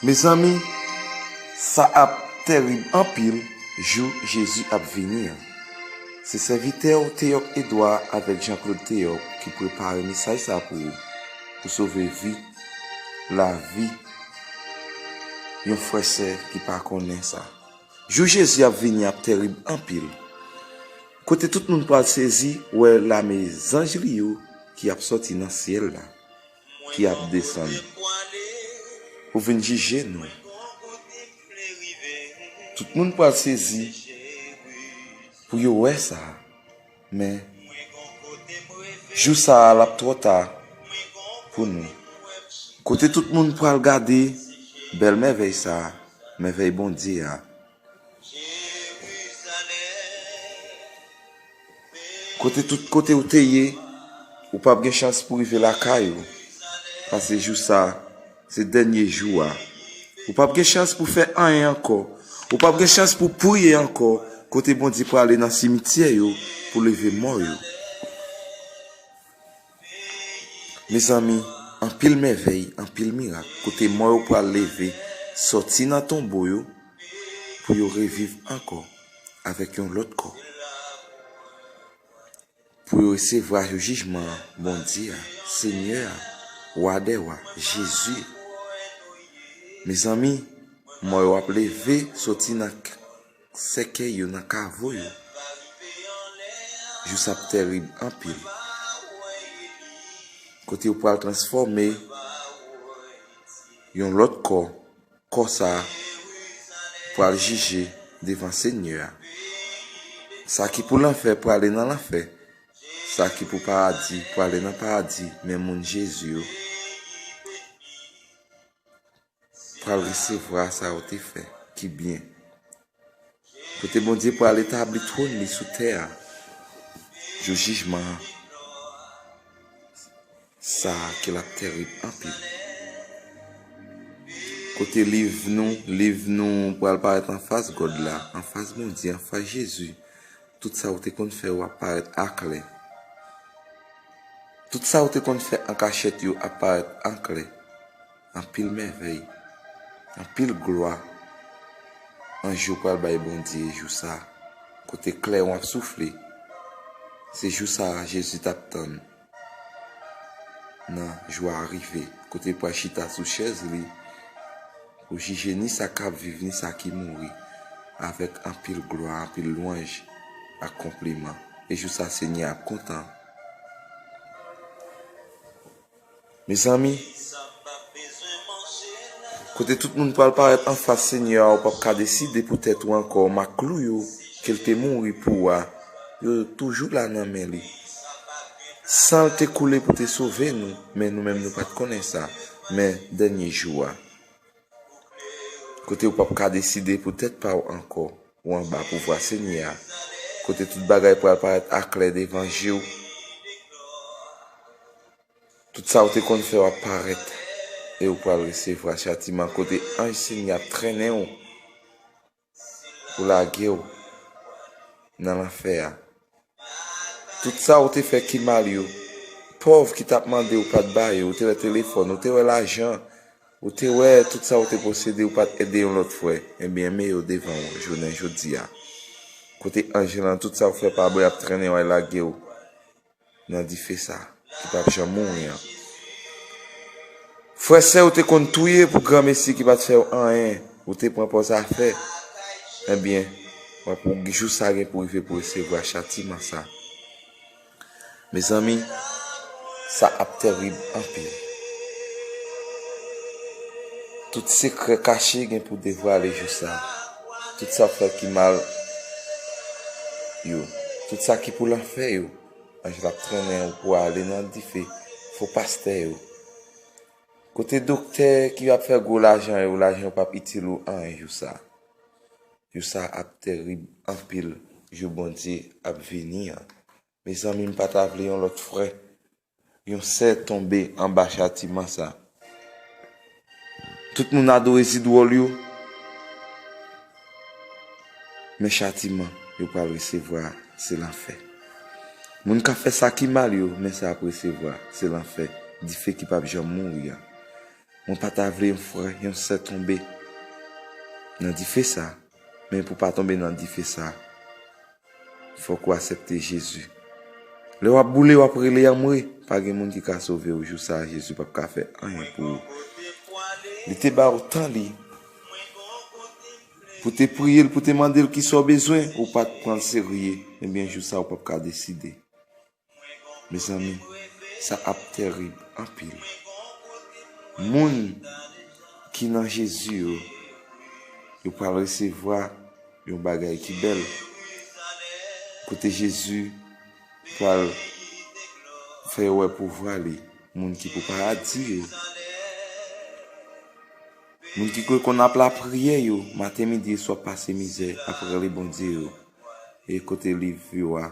Mezanmi sa ap tèrib anpil jou Jezi ap vini an. Se sèvitè w Théoc Edouard avèk Jean Claude Théoc ki prepare mesaj sa pou ou, pou sove vi, lavi yon frè sè ki pa konnen sa. Jou Jezi ap vini ap tèrib anpil. Kote tout moun pral sezi wè lame zanj li yo ki ap sòti nan syèl la, ki ap desann pou vin jije nou. Tout moun pral sezi pou yo wè sa, men, jou sa a l ap twò ta pou nou. Kote tout moun pral gade bèl mèvèy sa a, mèvèy Bondye a. Kote tout kote ou te ye, ou pap gen chans pou rive lakay ou. Pase jou sa, se dènye jou a. Ou pap gen chans pou fè anyen ankò. Ou pap gen chans pou priye ankò kote Bondye prale nan simityè yo pou leve mò yo. Mezanmi, anpil mèvèy, anpil mirak, kote mò yo pral leve sòti nan tonbo yo pou yo reviv ankò avèk yon lòt kò, pou yo resevwa jou jijman an Bondye a, Senyè a, Wa dè wa, Jezi. Mezanmi, mò yo ap leve sòti nan. Sèkèy yo nan kavo yo. Jou sa ap tèrib anpil. Kote yo pral transfòme yon lòt kò, kò sa a pral jije devan Senyè a. Sa ki pou lanfè prale nan lanfè, sa ki pou paradi prale nan paradi men moun Jezi yo. pral resevwa sa ou te fè ki byen, kote Bondye pral etabli twòn li sou tè a jou jijman an, sa ke l ap tèrib anpil, kote liv nou, liv nou pral parèt anfas Gòd la, anfas Bondye, anfas Jezi, tout sa ou te konn fè yo ap parèt aklè, tout sa ou te konn fè an kachèt yo ap parèt anklè. Anpil mèvèy, anpil glwa, anj yo pral bay Bondye jou sa a, kote klèwon ap soufle. Se jou sa a Jezi t ap tann nan. Jou a rive kote l pral chita sou chèz li pou jije ni sa k ap viv ni sa ki mouri avèk anpil glwa, anpil lwanj ak konpliman. E jou sa a Senyè a ap kontan. Mezanmi, kote tout moun pral parèt anfas Senyè a ou pap ka deside pou tèt ou ankò ma klou yo ke l te mouri pou a yo toujou la nan men li san l te koule pou te sove nou men nou menm nou pat konnen sa men dènye jou a kote ou pap ka deside pou tèt pa ou ankò ou anba pouvwa Senyè a kote tout bagay pral parèt aklè devan je w. Tout sa ou te konn fè wap parèt e ou pral resevwa chatiman kote anj Senyè ap trennen ou pou lage ou nan lanfè a. Tout sa ou te fè ki mal yo, pòv ki tap mande ou pat ba yo, ou te wè telefòn, ou te wè lajan, ou te wè tout sa ou te posede ou pat ede yon lòt frè, ebyen men yo devan ou jounen jodi a. Kote anj lan tout sa ou fè pa bon yap trennen ou al lage ou. nan dife sa ki pap janm mouri an. Frè sè ou te konn touye pou granmesi ki pat fèw anyen ou te pran paw zafè ebyen wap ou jou sa gen pou rive pou resevwa chatiman sa mezanmi sa ap tèrib anpil tout sekrè kache gen pou devwale jou sa. Tout sa w fè ki mal yo. Tout sa ki pou lanfè yo. Anj la p trennen w pou ale nan dife. Fo pastè yo. Kote doktè ki ap fè gwo lajan yo, lajan yo p ap itil ou anyen jou sa a. Jou sa a ap terib anpil, jou Bondye ap vini an. Mezanmi, m pa ta vle yon lòt frè Yon sè tonbe anba chatiman sa. Tout moun adore zid wòl yo, men chatiman yo pral resevwa a, se lanfè. Moun k ap fè sa ki mal yo, men sa y ap resevwa, se lanfè, dife ki pap janm mouri an. Mwen pa ta vle yon frè, yon sè tonbe nan dife sa. Men pou pa tonbe nan dife sa, fòk ou asepte Jezi. Lè wap boule wap rele anmwe, pa gen moun ki ka sove ou jou sa Jezi pap ka fè anyen pou ou. Li te ba ou tan li pou te priye l, pou te mande l kisa ou bezwen, ou pat pran l serye, ebyen jou sa ou pap ka deside. Mezanmi sa ap tèrib anpil. Moun ki nan Jezi yo, yo pral resevwa yon bagay ki bèl. Kote Jezi pral fè yo wè pouvwa li. Moun ki pou paradi yo. Moun ki kwe konn ap lapriyè yo, maten midi e swa pase mizè ap rele Bondye yo. E kote liv yo a.